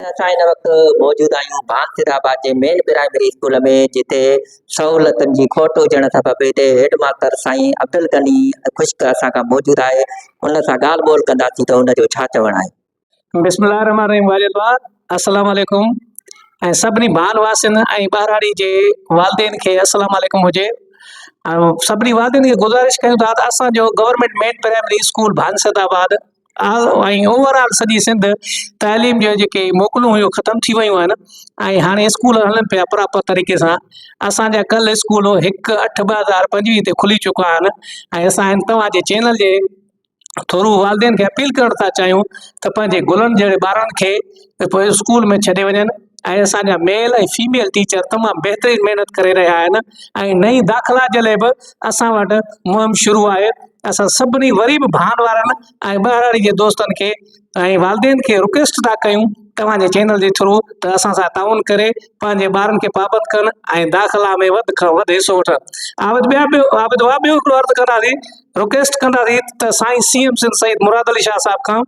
اسان هن وقت موجود آهيون بانسر آباد جي مين پرائمري اسڪول ۾ جتي سهولتن جي کوٽ هجڻ سبب هتي هيڊ ماستر سائين عبدالغني خشڪ اسان کان موجود آهي ان سان ڳالهه ٻولهه ڪنداسين ته ان جو ڇا چوڻ آهي بسم الله الرحمن الرحيم والد با السلام عليڪم ۽ سڀني ڀان واسين ۽ ٻهراڙي جي والدين کي السلام عليڪم هجي ۽ سڀني والدين کي گزارش ڪيون ٿا ته اسان جو government main primary school Bansad Abad ۽ over all سڄي سنڌ تعليم جون جيڪي موڪلون هيون ختم ٿي ويون آهن ۽ هاڻي اسڪول هلن پيا پراپر طريقي سان اسانجا ڪل اسڪول هڪ اٺ ٻه هزار پنجويهه تي کلي چڪا آهن ۽ اسان توهانجي چينل جي ٿرو والدين کي اپيل ڪرڻ ٿا چاهيون ته پنهنجي گلن جهڙي ٻارن کي اسڪول ۾ ڇڏي وڃن ۽ اسان جا ميل ۽ فيميل ٽيچر تمام بهترين محنت ڪري رهيا آهن ۽ نئين داخلا جي لاء به اسان وٽ مهم شروع آهي اسان سڀني وري به ڀان وارن ۽ ٻهراڙي جي دوستن کي ۽ والدين کي رڪويسٽ ٿا ڪيون توهان جي چينل جي ٿرو ته اسان سان تعاون ڪري پنهنجي ٻارن کي پابند ڪن ۽ داخلا ۾ وڌ کان وڌ حصو وٺن عابد ٻيا ٻيو عابد وا ٻيو هڪڙو عرض ڪنداسين رڪويسٽ ڪنداسين ته سائين سي ايم سنڌ سيد مراد علي شاهه صاحب کان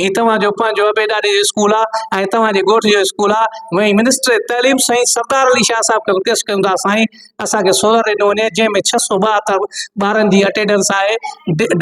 هي توهان جو پنهنجو ابيداري جو اسڪول آ ۽ توهان جي ڳوٺ جو اسڪول آ وئي منسٽر تعليم سائين سردار علي شاهه صاحب کي رڪويسٽ ڪريون ٿا سائين اسان کي سولر ڏنو وڃي جنهن ۾ ڇهه سو ٻاهتر ٻارن جي اٽينڊنس آهي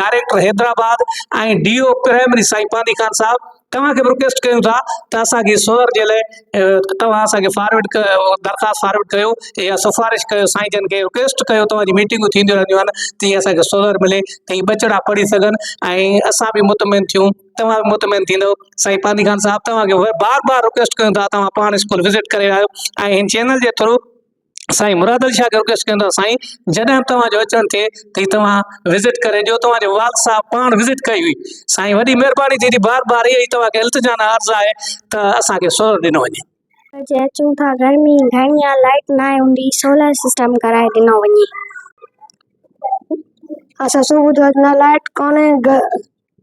director Hyderabad ۽ D O primary سائين پانڌي خان صاحب توهان کي به رڪويسٽ ڪريون ٿا ته اسان کي سولر جي لاء توهان اسان کي فارورڊ ڪيو درخواست فارورڊ ڪيو يا سفارش ڪيو سائين جن کي رڪويسٽ ڪيو توهان جون ميٽنگون ٿينديون رهنديون آهن تي اسان کي سولر ملي تي ٻچڙا پڙهي سگهن ۽ اسان به مطمئن ٿيون توهان به مطمئن ٿيندو سائين پانڌي خان صاحب توهان کي بار بار رڪويسٽ ڪيون ٿا توهان پاڻ اسڪول وزٽ ڪري آيو ۽ هن چينل جي ٿرو سائين مراد علي شاهه گرگس چوندو آهي سائين جڏهن به توهان جو اچڻ ٿئي ته هي توهان وزٽ ڪري ڏيو توهان جو والد صاحب پاڻ وزٽ ڪئي هئي سائين وڏي مهرباني ٿيندي بار بار اها ئي توهان کي التجا ۽ عرض آهي ته اسان کي سولر ڏنو وڃي اڄ اچون ٿا گرمي گهڻي آ لائٽ ناهي هوندي سولر سسٽم ڪرائي ڏنو وڃي اسان صبح جو اڄ نه لائٽ ڪونهي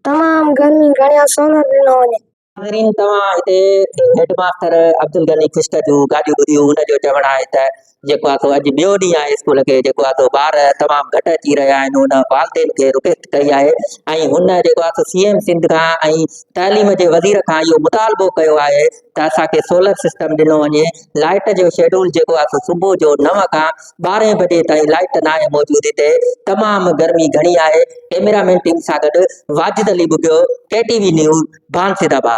تمام گرمي گهڻي آ سولر ڏنو وڃي ناظرين توهان هتي هيڊ ماستر عبدالغني خشڪ جون ڳالهيون ٻڌيون ان جو چوڻ آهي ته جيڪو آهي سو اڄ ٻيو ڏينهن آهي اسڪول کي جيڪو آهي سو ٻار تمام گهٽ اچي رهيا آهن هن والدين کي رڪويسٽ ڪئي آهي ۽ هن جيڪو آهي سو سي ايم سنڌ کان ۽ تعليم جي وزير کان اهو مطالبو ڪيو آهي ته اسان کي سولر سسٽم ڏنو وڃي لائٽ جو شيڊول جيڪو آهي سو صبح جو نو کان ٻارهين بجي تائين لائيٽ ناهي موجود هتي تمام گرمي گهڻي آهي ڪيميرا مين ٽيم سان گڏ Wajid Ali Bughio K T V news Bansid آباد.